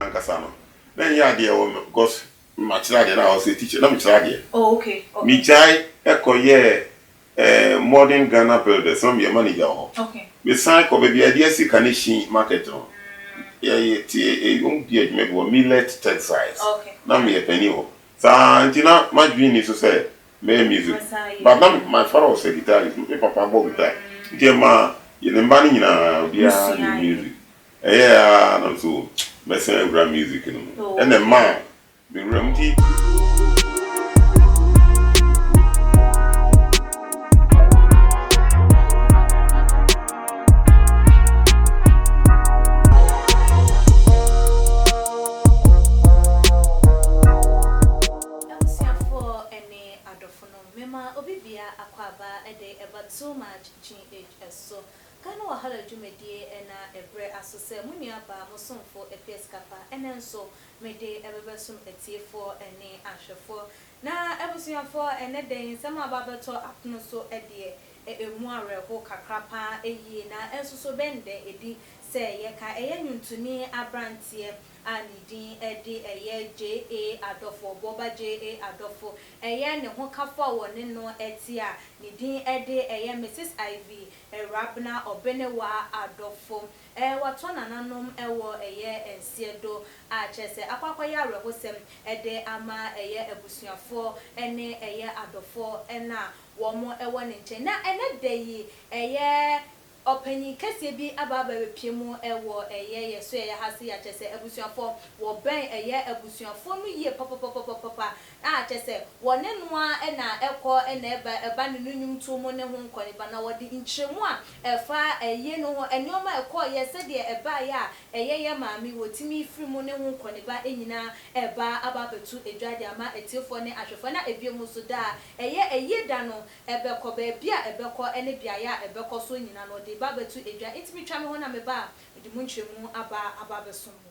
ankasa no na ɛnyɛ adeɛ ɛwɔ me because makyerɛ adeɛ na I was a teacher na mekyerɛ adeɛ oh, okay, okay. megyae ɛkɔyɛɛ eh, modern Ghana builders na meyɛ manager wɔ hɔ okay. mesan kɔ baabi a ɛde asi Kanehyin market no yɛyɛ te ɛyom di adwuma bi wɔ millet textiles okay. na meyɛ panin hɔ saa nti na madwene ni so sɛ mɛyɛ music but na my father was a guitarist me papa bɔ guitar nti ɛma yɛne mba no nyinaa obiara ne music Ɛyɛɛ ara na nso mɛsan awura music no mu. Ɛna ɛmaa me wura mu nti. Abusuafoɔ ne adɔfonom, mema obi biara akwaaba de ɛba too much GH so. Ghana Wahala Dwumadie ɛna ɛbrɛ aso sɛ mo nua baa mo somfo ɛpɛ sika pa ɛnɛ nso me de ɛbɛbɛ som atiefoɔ ɛne ahwɛfoɔ na abusuafoɔ ɛnɛ dɛn nsɛm a aba abɛtɔ apono so ɛdeɛ ɛ ɛmu awerɛho kakra paa ɛyie na ɛnsoso bɛn dɛ ɛdi sɛ yɛ ka ɛyɛ nwuntuni abranteɛ a ne din ɛde ɛyɛ JA Adɔfo ɔboɔba JA Adɔfo ɛyɛ ne ho kafoɔ a wɔ ne no ɛte a ne din ɛde ɛyɛ Mrs Ivy Erabena ɔbene wa adɔfo eh Watɔ nananom wɔ ɛyɛ nseɛ do ah Kyerɛ sɛ akɔ akɔyɛ awerɛhosɛm de ama ɛyɛ abusuafoɔ ne ɛyɛ adɔfoɔ na wɔn wɔ ne nkyɛn Na ɛnɛ da yi ɛyɛ ɔpanyin kɛseɛ bi aba aba abɛpue mu wɔ ɛyɛ yɛ so ɛyɛ ha se ah Kyerɛ sɛ abusuafoɔ wɔbɛn ɛyɛ abusuafoɔ no yie papapapapapa a kyerɛ sɛ wɔne no ara na ɛkɔ na ɛba ba ne no nnwomtoɔ mu ne ho nkɔneba, na wɔde nkyerɛmu a ɛfa ayie no ho, nneɛma a ɛkɔeɛ, sɛdeɛ ɛbaeɛ a ɛyɛ yɛn maame, wɔtumi firi mu ne ho nkɔneba nyina ara ba aba abɛto dwa de ama atiefoɔ ne ahwɛfoɔ, na ɛbio mu nso daa ɛyɛ ayie da no ɛbɛkɔ, baabi a ɛbɛkɔ ne beaeɛ a ɛbɛkɔ so nyina no ɔde ba abɛto dwa, nti metwa me ho na meba a mede mo nkyerɛmu aba aba abɛsom mo.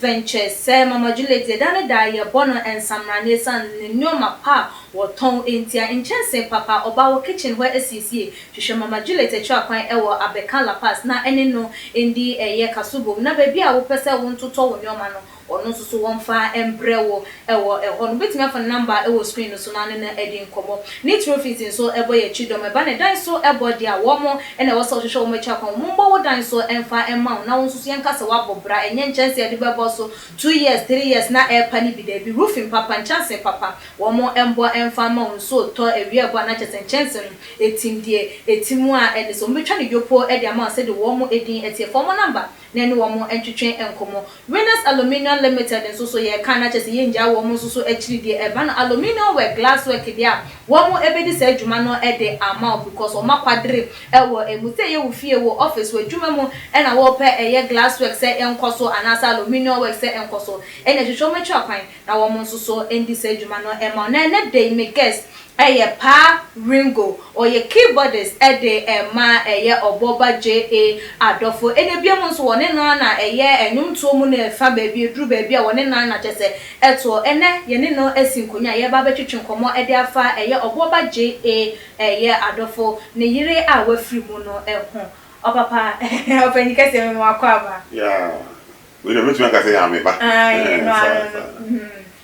Ventures, sɛ Mama Juliet, da ne da yɛbɔ no nsamena na esiane ne nnoɔma pa a wɔtɔn ntia, nkyɛnsee papa ɔba wɔ kitchen hɔ asiesie. Hwehwɛ Mama Juliet akyira kwan wɔ Abeka La Paz na ɛne no ndi ɛyɛ kaso bom na baabi a wopɛ sɛ wontotɔ wo nnoɔma no, ɔno nso so wɔmfa mbrɛ wo. wɔ hɔ no, wobɛtumi afa ne namba a ɛwɔ screen no so na ne no adi nkɔmmɔ. Ne Trofit nso bɔ yɛn akyi dɔm. Ɛba ne dan so bɔ deɛ a, wɔn na ɛwɔ sɛ wɔhwehwɛ wɔn akyi akwan. Wɔn mmɔ wo dan so mfa mma wo na wo nso so yɛnka sɛ woabɔ bra. Ɛnyɛ nkyɛnse a yɛde bɛbɔ so two years, three years na ɛrepa no bi, daabi. Roofing papa, nkyɛnse papa, wɔn mmɔ mfa mma wo. Nsuo retɔ awia ɛbɔ a na kyerɛ sɛ nkyɛnse no ɛtim deɛ ɛtim a ɛne sɛ wɔbɛtwa no yopo de ama wo sɛdeɛ wɔn din teɛ. Fa wɔn namba na ɛne wɔn ntwetwe nkɔmmɔ. Winners Aluminium Limited nso so yɛ kan na kyerɛ sɛ yɛngyaa wɔn nso so akyiri deɛ ɛba no aluminium work, glass work deɛ a wɔn bɛdi saa adwuma no de ama wo because wɔn akwadere wɔ ɛmu sɛ ɛyɛ wo fie, wo office, w'adwuma mu na wɔpɛ ɛyɛ glass work sɛ ɛnkɔ so anaasɛ aluminium work sɛ ɛnkɔ so ɛnna ɛhwehwɛ wɔn akyiri akwan. na wɔn nso so ndi saa dwuma no ma wo. Na ɛnnɛ da yi me guest yɛ Pa Ringo, ɔyɛ keyboardist de ma ɛyɛ Ɔbɔba JA adɔfo. Ɛnna bio mu nso wɔne no ara na ɛyɛ nnwomtoɔ mu no fa baabi, ɛduru baabi a wɔne no ara na kyerɛ sɛ ɛtoɔ. Ɛnnɛ yɛne no asi nkonnwa a yɛreba abɛtwetwe nkɔmmɔ de afa ɛyɛ Ɔbɔba JA ɛyɛ adɔfo, ne yere a wafiri mu no ho. Ɔpapa, ɔpanyin kɛseɛ, mema wo akwaaba. Yeah, Wei deɛ mɛtumi aka sɛ yaa me ba. Ae no ara no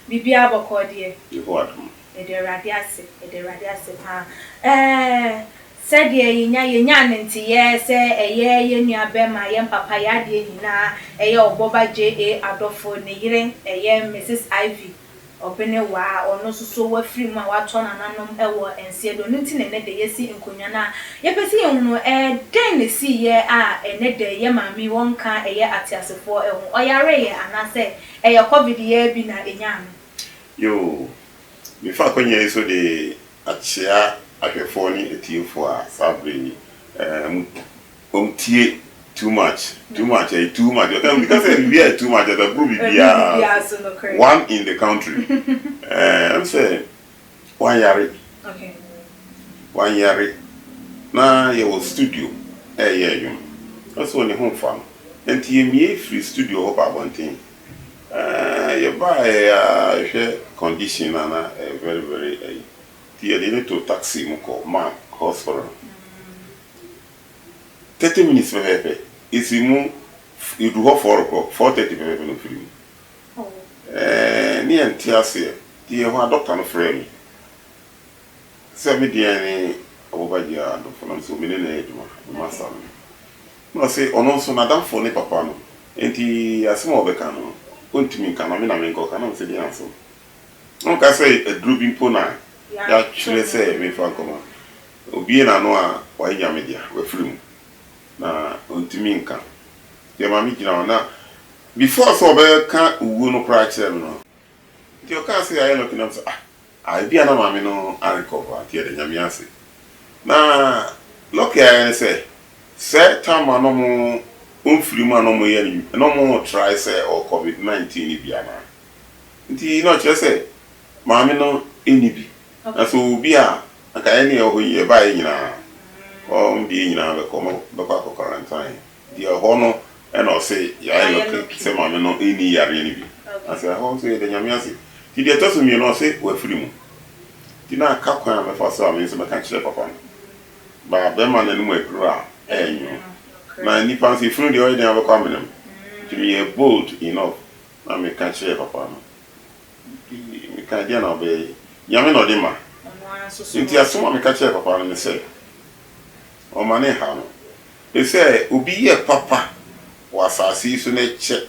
biribiara bɔkɔɔ deɛ. Yehowa dom. Yɛda Awurade ase yɛda Awurade ase paa ɛɛ sɛdeɛ yɛnya yɛnyaa no nteyɛɛ sɛ ɛyɛ yɛn nua bɛɛma yɛn papa yɛadeɛ nyinaa ɛyɛ ɔbɔba JA Adɔfo ne yere ɛyɛ Mrs Ivy Ɔbene wa a ɔno nso so wafiri mu a watɔ nananom wɔ nseɛ do no nti na ɛnnɛ dɛ yɛsi nkonwa no a yɛpɛ sɛ yɛhunu ɛɛ dɛn na ɛsiiɛ a ɛnnɛ dɛ yɛ maame yi wɔnka ɛyɛ ateasefoɔ ɛho, ɔyareeɛ anaa sɛ ɛyɛ covid yi ara bi na ɛnyaa no. Yoo, mefa akwanya yi so de akyea ahwɛfoɔ ne atiefoɔ a saa berɛ yi ɛɛ mo. Wɔn tie too much too much ɛyɛ too much ɔka obi ka sɛ biribi ayɛ too much ɔsɛ ɛboro biribiara so one in the country ɛɛ ɛm sɛ wɔn yare wɔn yare na yɛ wɔ studio ɛɛyɛ ɛdwom ɔsɛ wɔn ne ho nfa no ɛnti yɛ mie firi studio hɔ ba abɔnten ɛɛ yɛ ba yɛ ya hwɛ condition na na ɛyɛ very very ɛyi ti yɛ de ne to taxi mu kɔ mark hospital. Thirty minutes pɛpɛɛpɛ esi mu edu hɔ four o'clock four thirty pɛpɛɛpɛ na ofiri mu ɛɛ ne yɛ nte aseɛ nti yɛ hɔ a doctor no frɛɛ me sɛ me deɛ ne Abobagyia adofo nam so me ne no yɛ adwuma me master no na ɔse ɔno nso n'adamfo ne papa no nti asɛm a ɔbɛka no ɔntumi nka na me na menkɔ ka na me sɛ deɛ nso na ɔka sɛ aduro bi mpo na yɛatwerɛ sɛ memfa nkɔma Obue n'ano a, wayɛ nyame dea, wafiri mu, na ɔntumi nka. Nti ɛma me gyina hɔ, na before sɛ ɔbɛka owuo no koraa kyerɛɛ me no, nti ɔkaa sɛ yɛayɛ lucky, na me sɛ ah, ah ebi a na maame no arecover, nti yɛda Nyame ase. Na lucky a yɛayɛ ne sɛ, sɛ time a na wɔn ɔmfiri mu a na wɔyɛ no, na wɔn retrae sɛ ɔwɔ covid 19 no bi anaa. Nti na ɔkyerɛ sɛ maame no nni bi, Na sɛ ɔwɔ bi a, anka yɛne yɛn wɔ hɔ yi, yɛn baeɛ nyinaa, wɔn deɛ nyinaa bɛkɔ, wɔbɛkɔ akɔ quarantine, nti ɛhɔ no na ɔse yɛayɛ lucky sɛ maame no nni yareɛ no bi, na sɛ ɛhɔ nso yɛda Nyame ase. Nti deɛ ɛtɔ so mmienu ɔse wafiri mu, nti na aka kwan a mɛfa so a me nso mɛka akyerɛ papa no, ba bɛrima no anom aduru a ɛyɛ nwono, na nnipa nso efunu deɛ ɔyɛ dɛn abɛkɔ amene me, nti meyɛɛ bold enough na meka kyerɛɛ papa no. Mekae, Deɛn na wobɛyɛ? Nyame na ɔde ma. Enti asɛm a meka kyerɛɛ papa no ne sɛ, Ɔmma no nhaw no. Efisɛ obi yɛ papa wɔ asase yi so na ɛkyɛ,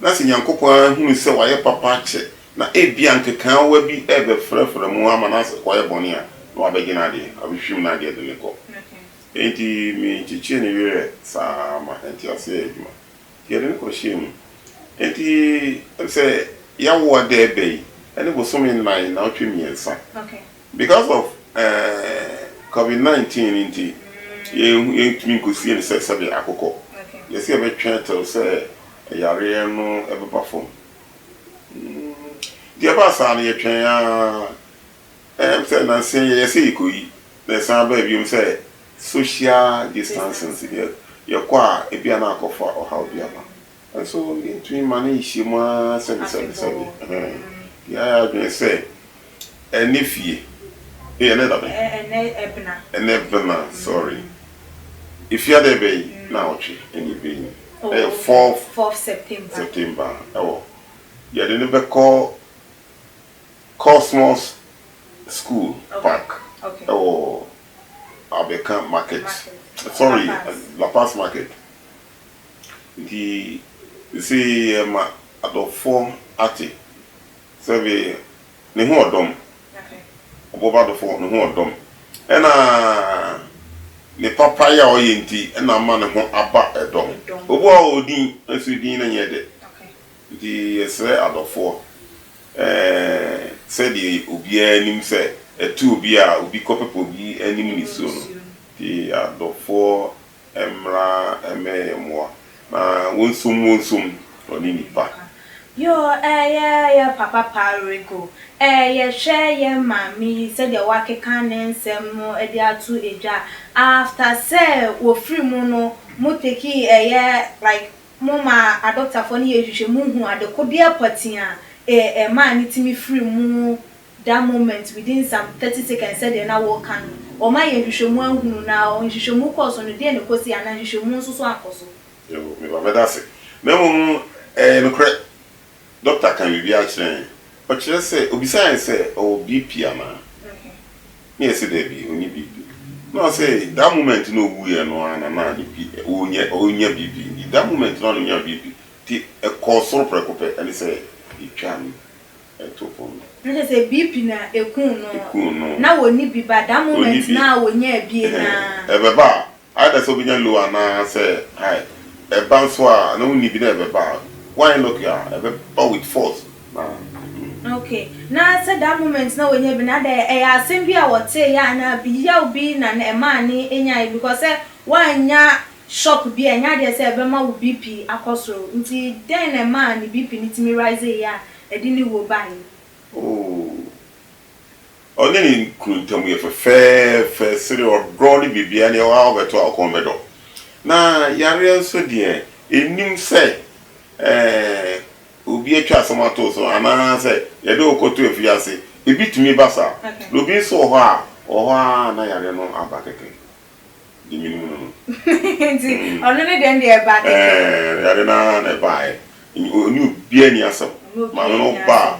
na sɛ Nyankopɔn ara hunu sɛ wayɛ papa akyɛ, na ebia nkekaawa bi rebɛfrafra mu ama no akɔyɛ bɔne a, na wabɛgye n'adeɛ, wabɛhwim n'adeɛ de no rekɔ. Enti menkyekyee ne werɛ saa ara ma ɛntease yɛɛ adwuma. Yɛde no kɔ hyia mu. Enti sɛ yɛawoɔ da ɛbɛ yi ɛne bosome nnan naawɔtwe mmiɛnsa because of ɛɛɛ covid 19 no nti yɛntumi nkɔsie no sɛ sɛdeɛ akokɔ. Yɛse yɛbɛtwe ɛtɛw sɛ ɛyareɛ no ɛbɛba fam. Nti ɛbaa saa no yɛtwɛn aa Ɛyɛm sɛ nansa yi yɛsɛ yɛkɔyi na ɛsan abaa biom sɛ social distancing nti deɛ yɛkɔ a ebia na akɔfa ɔhaw bi aba nso yɛntumi ma no nhyia mu ara sɛbi sɛbi sɛbi nti yɛayɛ adwene sɛ ɛnɛ fie ei ɛnɛ da bɛn? Ɛnɛ ɛbena. Ɛnɛ ɛbena sorry efie adɛn bɛn yi? Naawɔtwe ɛna ɛbɛn yi ɛyɛ fourth September ɛwɔ yɛde no bɛkɔ Cosmos school park ɛwɔ abeka market sorry la paz market nti sese yɛma adɔfoɔ ate sɛbe ne ho ɔdɔm ɔbɔba adɔfoɔ ne ho ɔdɔm ɛna ne papa yɛ a ɔyɛ nti ɛna ama ne ho aba ɛdɔm obu a ɔwɔ din nso din no nyɛ dɛ Nti yɛsrɛ adɔfoɔ, ɛɛ, sɛdeɛ obiara nim sɛ ɛto obi a obi kɔpepa obi anim nisuo no, nti adɔfoɔ mmra mmɛyɛ yɛn mmoa na wɔnsom wɔnsom ɔne nipa. Yoo ɛyɛ yɛ papa paa Rico ɛɛ yɛhwɛ yɛ maame yi sɛdeɛ wakeka ne nsɛm no de ato dwa after sɛ wɔfiri mu no mo tekii ɛyɛ like Momma adɔktafoɔ no yɛ nhwehwɛmu nhu adekodeɛ pɔtee a ɛmaa no tumi firii mu that moment within some thirty seconds sɛdeɛ na woreka no. Wɔn ayɛ nhwehwɛmu ahunu na nhwehwɛmu kɔɔ so no deɛn na ɛkɔsii anaa nhwehwɛmu nso so ankɔ so? Yɛwɔ, meba bɛda ase. Na mmom ɛyɛ nokorɛ Dɔkta kaa biribi akyerɛ yɛn. Ɔkyerɛ sɛ, ɔbisaa yɛn sɛ, ɔwɔ BP anaa? Na yɛse, daabi, ɔnni BP. Na ɔse, that moment no a ɔwuiɛ no ara na na ne B, ɔrenya, ɔrenya BP. Nti that moment no ara na ɔnyaa BP. Nti ɛkɔɔ soro prɛko pɛ. Ɛne sɛ, yɛtwaa no too fam no. Na kyerɛ sɛ, BP na ɛkuu no. Ɛkuu no. Na ɔnni bi, but that moment no a ɔnyaa bie no ara. Ɛbɛba a, Either sɛ wobɛnya low anaa sɛ high. Ɛba nso a na wonni bi na ɛbɛba a, woanyɛ lucky a, ɛbɛba with force na. Okay, na sɛ that moment na wanya bi no adɛn, ɛyɛ asɛm bi a wɔteeɛ anaa yaw bi na na ɛmaa ne nyaeɛ because sɛ woannya shock bi a ɛnyɛ adeɛ sɛ ɛbɛma wo BP akɔ soro nti dɛn na ɛmaa ne BP no tumi riseeɛ a ɛde ne wuo baeɛ? Oh, Ɔne ne kunu ntam yɛ fɛfɛɛfɛ, sere, ɔdɔ ne biribiara nea ɛwɔ a wobɛto a ɔkɔn bɛdɔ. Na yareɛ nso deɛ, ɛnnim sɛ obi atwa asɛm ato wo so anaasɛ yɛde wo kɔto afiase. Ebi tumi ba saa. Na obi nso wɔ hɔ a, ɔwɔ hɔ ara a na yareɛ no aba kɛkɛ. Deɛ menim no no. Nti ɔno ne deɛ no deɛ ɛbaa kɛkɛ. Ɛɛ, yareɛ no ara na ɛbaeɛ. Ɔne obiara nni asɛm. Maame no ba a,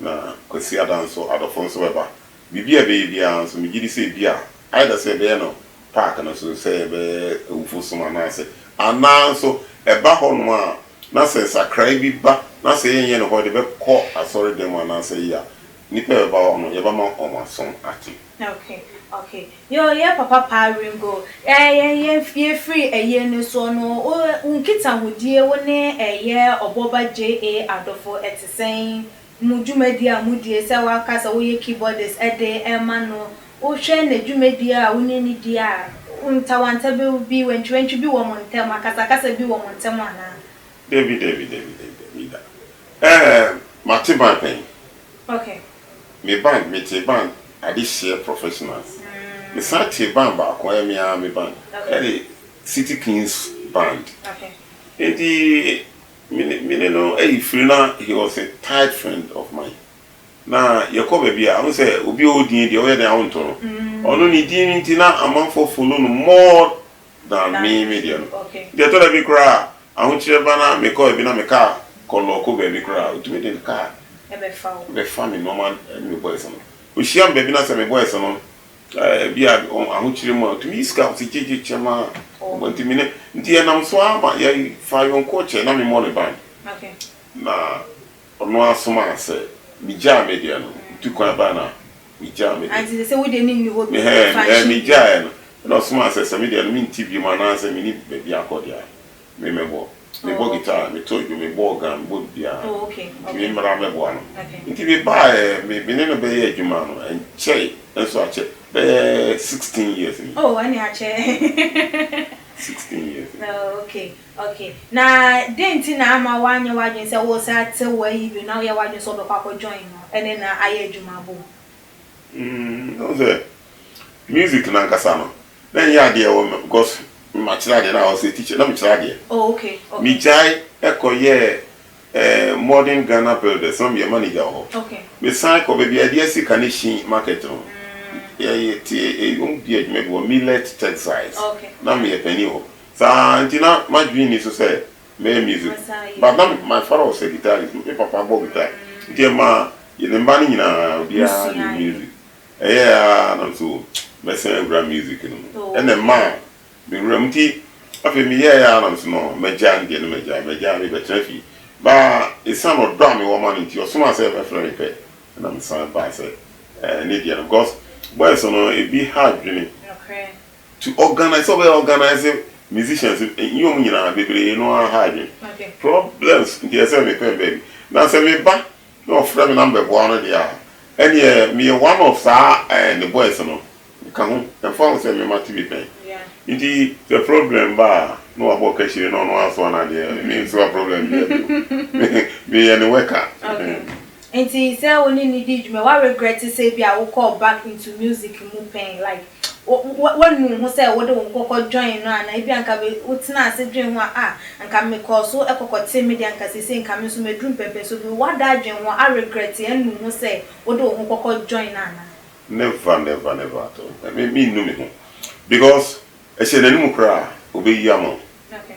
Na Kwasiada nso, adɔfo nso bɛba. Biribi a ɛbɛyɛ biara nso, migye di sɛ ebia, either sɛ yɛbɛyɛ no park no so, sɛ yɛbɛyɛ awufo som anaasɛ, anaa nso ɛba hɔnom a, na sɛ nsakrae bi ba, na sɛ yɛnyɛ no hɔ de bɛkɔ asɔredan mu anaasɛ ayi a, nnipa a ɛbɛba hɔ no, yɛbɛma wɔn aso ate. Ok ok yoo yɛ papa paa Ringo ɛɛ yɛn yɛn yɛfiri ɛyie no soɔ no wo wo nkitahodie wo ne ɛyɛ ɔbɔba JA Adofo ɛte sɛn mo dwumadie a modie sɛ waka sɛ woyɛ keyboardist ɛde ɛɛma no wo hwɛ nadwumadie a wo ne no di a ntawanta bɛ bi wantwiwantwi bi wɔ mo ntɛm akasakasa bi wɔ mo ntɛm anaa. Dabi dabi dabi dabi dabi da ɛɛ mate ban pɛn. Ok. Me ban, me tee ban adehyeɛ professional. Me san tee ban baako, ɛyɛ me ara me ban, ɛyɛ City Kings band. Enti me ne me ne no ayi firi na he was a tight friend of mine. Na yɛkɔ baabi a, wohu sɛ obi a ɔwɔ din deɛ woyɛ dɛn a wonto no. Ɔno ne din no nti na amanfoɔ follow no more na me me deɛ no nti ɛtɔ da bi koraa a ahokyerɛ ba na mekɔ baabi na me car kɔ lɔɔko baabi koraa a ɔtumi de ne car bɛfa me nnoɔma ne me boys no ɔhyia me baabi na sɛ me boys no ebi a ahokyerɛ mu a ɔtumi yi sika ɔse gye gye kyɛ ma ɔma nti me ne nti yɛnam so ara ma yɛfa ayɔnkoɔ kyɛ na me mmɔ ne ban na Ɔno ara somaa sɛ migyaa me deɛ no, nti kwan bɛn na megyaa me deɛ? Mehɛɛn, ɛɛ, megyaeɛ no. Ɛnna ɔsomaa sɛ, sɛ me deɛ no mente bio mu anaasɛ menni baabi akɔ deɛ a, me mɛbɔ. Mebɔ guitar, meto dwom, mebɔ organ, mebɔ biribiara, nti me mmra mmɛboa no. Nti mebaeɛ, me, me ne no bɛyɛɛ adwuma no, ɛnkyɛe nso akyɛ bɛyɛ sixteen years ni. Oh, ɛnneɛ akyɛ. Sixteen years ni. Oh, okay. Ok, na dɛn nti na amma woanyɛ w'adwene sɛ woresan atew w'ayi bio na woyɛ w'adwene sɛ wobɛkɔ akɔ join no ne no ayɛ adwuma bom? Nn, wohu sɛ, music no ankasa no, na ɛnyɛ adeɛ a ɛwɔ me because makyerɛ adeɛ, na I was a teacher, na mekyerɛ adeɛ. Oh, ok, ok. Megyae kɔyɛɛ eh, Modern Ghana Builders, na meyɛ manager wɔ hɔ. Ok. Mesan kɔ baabi a yɛde asi Kaneshie market no, yɛte, yɛdi adwuma bi wɔ Millet Textiles, na meyɛ panin wɔ hɔ. Saa nti na m'adwene nni so sɛ mɛyɛ music but na my father was a guitarist, me papa bɔ guitar nti ɛmaa yɛne mma no nyinaa obiara nim music. Ɛyɛɛ ara na nso mɛsan awura music no mu ɛna ɛmaa me wura mu nti afei meyɛɛ ara na nso no magyaa no deɛ na magyaa, magyaa me bɛtena fie but ɛsiane ɔdɔ a mewɔ ma no nti ɔsomaa sɛ ɛbɛfrɛ me pɛ na mesan baa sɛ ne deɛ no because boys no ɛbi ha adwene. To organise sɛ ɔbɛyɛ organise musicians nye wɔn nyinaa bebree no ara ha adwene. Problems nti ɛsɛ me pɛn baabi. Na sɛ me ba na ɔfrɛ me na me bɛboa no deɛ a, ɛneɛ meyɛ one of saa eh ne boys no, me ka ho. Ɛmfa ho sɛ me ma te me pɛn. Nti sɛ problem ba a, na wabɔ kahyire na ɔno ara asoa no adeɛ, me nsoa problem biara bio. Me yɛ ne worker. Nti sɛ wo ne no di dwuma wa regret sɛ ebia wo kɔɔ back into music mu pɛn like wo wa nu wo ho sɛ wode wo ho kɔkɔ join no anaa ebia nka be wo tenaa ase dwen ho a ah nka me kɔɔ so kɔkɔ tee me deɛ nka seisei nka me nso maduru mpɛmpɛn so bi wa da adwen ho a regret a nu wo ho sɛ wode wo ho kɔkɔ join no anaa. Never never never at all me me nnu me ho because ɛhyɛ n'anum koraa obeyia mo. Okay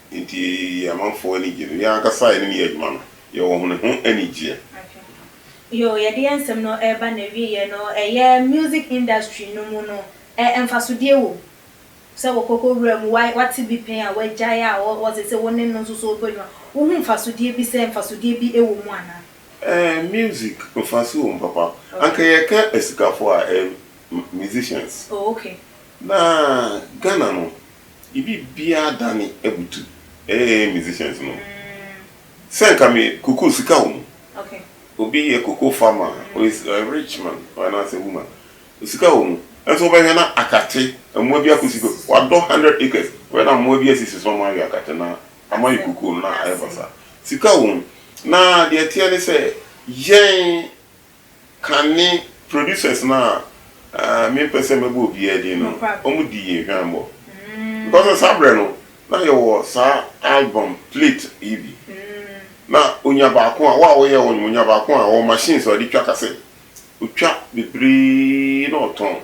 Enti yɛn amanfoɔ ani gye no. Yɛn ankasa yɛne no yɛ adwuma no, yɛwɔ ho ne ho anigyeɛ. Okay. Yoo, yɛde yɛn nsɛm no reba n'awieɛ no, ɛyɛ music industry no mu no, ɛ, mfasodeɛ wɔ mu? Sɛ wɔkɔkɔ wura mu, wa, wate bi pɛn a wagyae a ɔ, ɔ, seesei wo ne no nso so rebɔ adwuma, wohu mfasodeɛ bi sɛ mfasodeɛ bi wɔ mu anaa? Ɛɛ, music, mfaso wɔ mu papa. Okay. Anka yɛka asikafoɔ a, ɛyɛ m, musicians. Oh, okay. Na Ghana no, Yɛ biribiara dane abutu eeh musicians no sɛ nka me cocoa sika wɔ mu obi yɛ cocoa farmer or is a rich man or anaasɛ woman sika wɔ mu nso wobɛhwɛ na akate mmoa bi akɔsi so wadɔ hundred acres wobɛhwɛ na mmoa bi asisi so na wɔawe akate na ama yɛ cocoa no na ayɛ basaa sika wɔ mu na deɛ ɛteɛ ne sɛ yɛn Kane producers no a mempɛ sɛ mɛbɔ obiara din no, wɔdii yɛn hwammɔ. Because saa berɛ no, na yɛwɔ saa album plate yi bi. Na ɔnya baako a, wo a woyɛ wonim, ɔnya baako a, ɔwɔ machines a ɔde twa cassette. Ɔtwa bebree na ɔtɔn.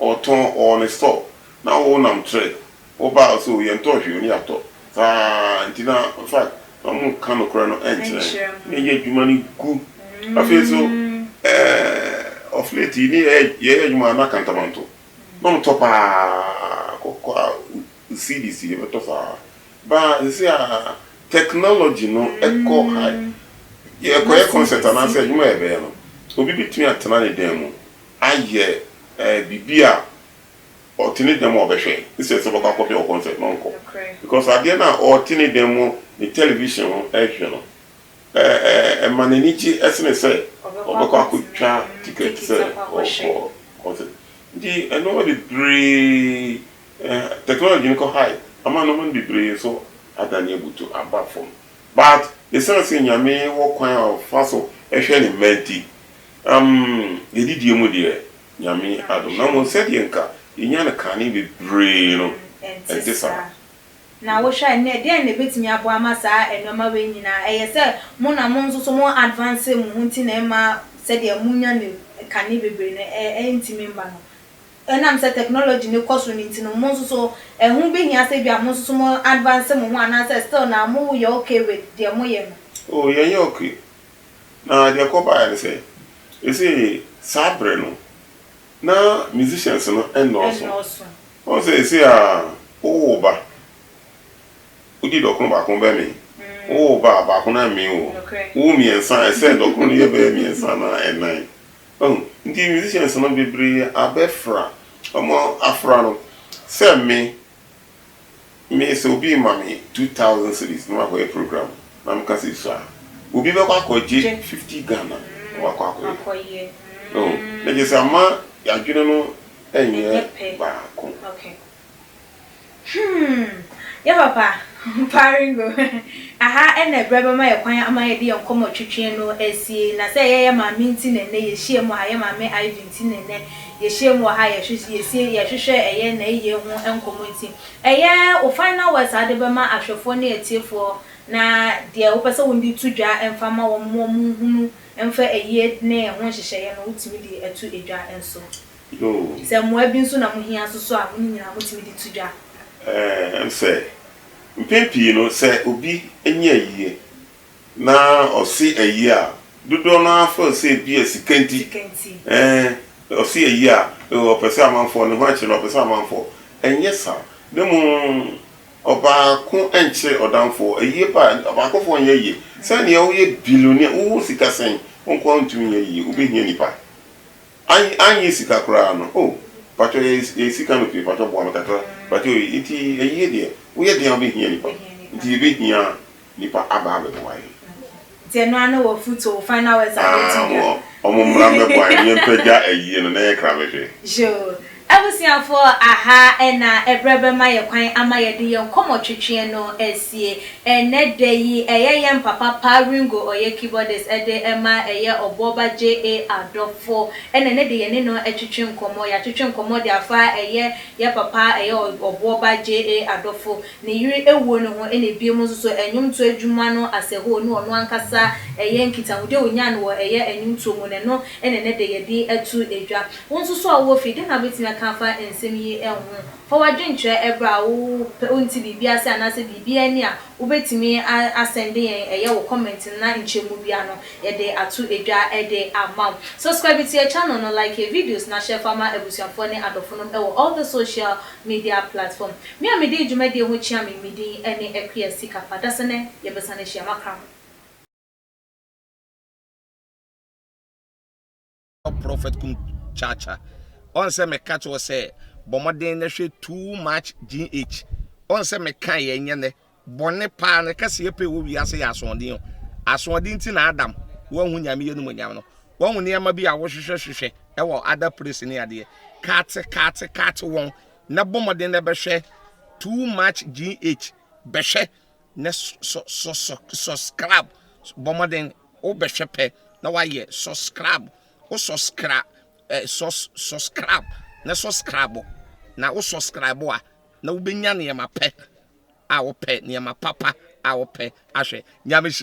Ɔtɔn, ɔwɔ ne store. Na wonam trek. Wo ba a so yɛntɔɔ hwee ɔne yɛatɔ saa nti na in fact na ɔmo nka nokorɛ no nkyerɛ yɛn na yɛyɛ adwuma no gu afei nso eh of late yi ne yɛyɛ adwuma a na kantamanto na ɔmo tɔ paa kɔkɔɔ a cedis yɛbɛtɔ saa baa sɛsei a technology no kɔ high yɛkɔyɛ concert anaasɛ adwuma a yɛbɛyɛ no obi bɛtumi atena ne dan mu ayɛ eh biribi a. Ɔte ne dan mu a ɔbɛhwɛ instead sɛ ɔbɛkɔ akɔhwɛ wɔ concert no ɔnkɔ because adeɛ no a ɔte ne dan mu ne television ho ɛhwɛ no ɛma n'ani gye ɛsene sɛ ɔbɛkɔ akɔtwa ticket sɛ ɔkɔ concert nti ɛnoɔma bebree technology no kɔ high ama nnoɔma no bebree nso adane abutu aba fam but ɛsiane sɛ Nyame wɔ kwan a ɔfa so ɛhwɛ ne mma nti umm yɛdidie mu deɛ Nyame adom. Na mmom sɛdeɛ nka yɛnya no kane bebree no, ɛnte saa. Na wohwɛ a nnɛ, deɛn na ɛbɛtumi aboa ama saa nnoɔma wei nyinaa? Ɛyɛ sɛ mo na mo nso so mo advance mo ho nti na ɛmma sɛdeɛ monya no kane bebree no ɛntumi mma no? Ɛnam sɛ technology no kɔ so no nti no, mo nso so ɛho bɛhia sɛ ebia mo nso so mo advance mo ho anaasɛ still na moyɛ okay with deɛ moyɛ no? Oh, yɛnyɛ okay. Na deɛ ɛkɔbaeɛ ne sɛ, seesei saa berɛ no, na musicians no nnɔɔso. Ɛnnɔɔso. Woahu sɛ seesei a, wowo wo ba, wodi dɔkono baako bɛmee. Wowo wo ba a, baako no ara mmee wo. Nokorɛ. Wowo mmiɛnsa a, ɛsɛ sɛ dɔkono no yɛ bɛyɛ mmiɛnsa anaa nnan. Wahu? Nti musicians no bebree abɛfra, wɔafra no sɛ me, Me sɛ obi ma me two thousand cedis na makɔ yɛ program na me ka sɛ sua obi bɛkɔ akɔ gye fifty Ghana na wakɔ akɔ yɛ oh na kyerɛ sɛ ama yɛ adwene no nyɛ baako. Okay hmm yɛ papa Paringo aha na ɛbrɛ bɛma yɛ kwan ama yɛde yɛ nkɔmɔ twetwe no asie na sɛ yɛ yɛ maame nti na ɛnɛ yɛ hyia mu ha yɛ maame Ivy nti na ɛnɛ Yɛhyiam wɔ ha a, yɛsiesie, yɛhwehwɛ, ɛyɛ nnɛyiye ho nkɔmmɔ nti. Ɛyɛ wo final words a wode bɛma ahwɛfoɔ ne atiefoɔ na deɛ wopɛ sɛ wode to dwa mfa ma wɔn ma wɔnhunu mfa ayie ne ɛho nhyehyɛeɛ no, wotumi de ato dwa nso. Sɛ mmoa bi nso na mohia nso so a, mo no nyinaa motumi de to dwa. Ɛne sɛ, mpɛn pii no, sɛ obi nyɛ ayie Na ɔse ɛye a, dodoɔ no ara feel sɛ ebia sika nti, eh, ɔse ɛye a, ɔpɛ sɛ amanfoɔ, ne ho akyere no, ɔpɛ sɛ amanfoɔ, ɛnyɛ saa, na mmom ɔbaako nkyere ɔdamfoɔ, ɛye ba a, abaakofoɔ nyɛ ye, sɛnea woyɛ billionaire, wowɔ sika sɛn, wo nko ara wontumi nyɛ yie, wobɛhia nnipa, anny anyɛ sika koraa no, oh, mpakyɛw yɛ yɛ sika no pii, mpakyɛw boa me kakra, mpakyɛw yi, nti ɛye deɛ, woyɛ den a wobɛhia nnipa, nti yɛbɛhia. Nipa aba abɛboa yɛn. Nti ɛno ara ne wɔ futuo, final words a wobɛtumi de aka. Aah wɔn mmra mmɛboa yɛn, yɛmpagya ayie no na yɛkra bɛhwɛ. Yoo. Abusuafoɔ, aha na ɛberɛ bɛma yɛn kwan ama yɛde yɛn nkɔmmɔtwetweɛ no asie. Ɛnnɛ da yi, ɛyɛ yɛn papa Pa Ringo, ɔyɛ keyboardist de ma ɛyɛ Ɔboɔba JA adɔfo na ɛnnɛ de yɛne no atwetwe nkɔmmɔ. Yɛatwetwe nkɔmmɔ de afa ɛyɛ yɛn papa ɛyɛ Ɔboɔba JA adɔfo. ne yere awuo no ho ɛna bio mo nso so ɛnwomtoɔ adwuma no asɛhoo no ɔno ankasa ɛyɛ nkitahodie a ɔnyaa no wɔ ɛyɛ ɛnwomtoɔ mu no ɛno ɛna ɛnɛ dɛ yɛde ato dwa. Wo nso so a wowɔ fie dɛn na wobɛtumi aka afa nsɛm yi ho? Fa w'adwenkyerɛ ɛberɛ a wo pɛ wonte biribi ase anaasɛ biribi anni a wobɛtumi a asɛnde yɛn ɛyɛ wo comment no na nkyɛmu biara no yɛde ato dwa de ama wo. Subscribe to yɛn channel no, like yɛn videos na share fa ma abusuafoɔ ne adɔfonom ɛwɔ all the social Media Platform. Me a mede dwumadie ho kyea me me din ne Akua Sika Pa Dasene yɛbɛsan ahyia makra mo. Prophet kum cha cha ɔn sɛ me ka kyerɛ wo sɛ bɔ mmɔden na hwɛ too much GH ɔn sɛ me kaeɛ nyɛ nɛ. Bɔne paa ne kɛseyɛ pɛ wɔ wiase yɛ asoɔden o. Asoɔden nti na Adam wanhu Nyame yɛnumonyam no. Wahu nneɛma bi a wohwehwɛ hwehwɛ wɔ other place ne adeɛ. Kate kate kate wɔn na bɔ mmɔden na bɛhwɛ too much GH bɛhwɛ na sɔ sɔ sɔ sɔskrab bɔ mmɔden wo bɛhwɛ pɛ na wayɛ sɔskrab wo sɔskra eh, sɔs sɔskrab na sɔskrabo na wo sɔskrabo a na wobɛnya nneɛma pɛ a wopɛ, nneɛma papa a wopɛ ahwɛ. Nyame nhyira.